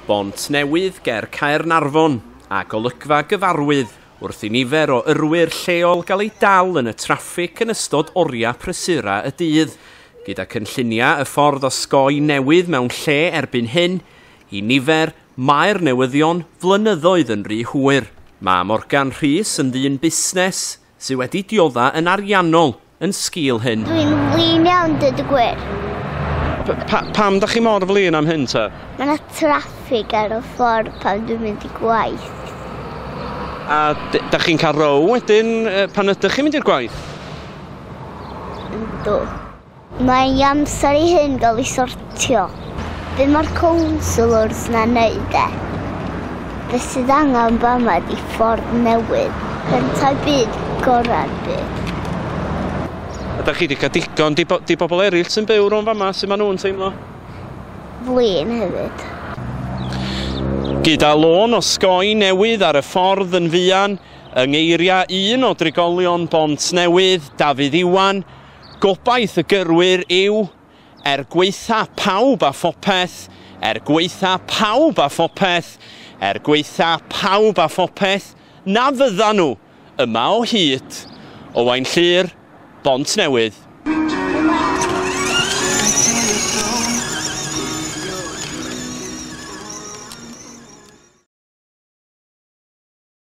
Bontnewydd ger Caernarfon, a golygfa gyfarwydd wrth i nifer o yrwyr lleol gael eu dal yn y traffig yn ystod oriau prysura y dydd. Gyda cynlluniau y ffordd osgoi newydd mewn lle erbyn hyn, i nifer, mae'r newyddion flynyddoedd yn rhy hwyr. Mae Morgan Rhys yn ddyn busnes, Sy wedi diodda yn ariannol yn sgil hyn. Dwi'n flin iawn dweud y gwir. Pa, pam da chi mor flin am hyn ta? Mae yna traffig ar y ffordd pan dwi'n mynd i gwaith. A da chi'n cael row wedyn pan ydych chi'n mynd i'r gwaith? Yndw. Mae hi amser i hyn gael ei sortio. Be mae'r councillors na wneud de? Be sydd angen fama di ffordd newydd. Cyntaf byd, gorau'r byd. Ydych chi wedi cael digon? Di, bo, di bobl eraill sy'n byw rhwng fama, sy'n maen nhw'n teimlo? Flin hefyd. Gyda lôn o sgoi newydd ar y ffordd yn fuan, yng ngeiriau un o drigolion Bont Newydd, Dafydd Iwan, Gobaith y gyrwyr yw, er gwaetha pawb a phopeth, er gwaetha pawb a phopeth, er gwaetha pawb a phopeth, na fyddan nhw yma o hyd. Owain Llŷr, Bontnewydd.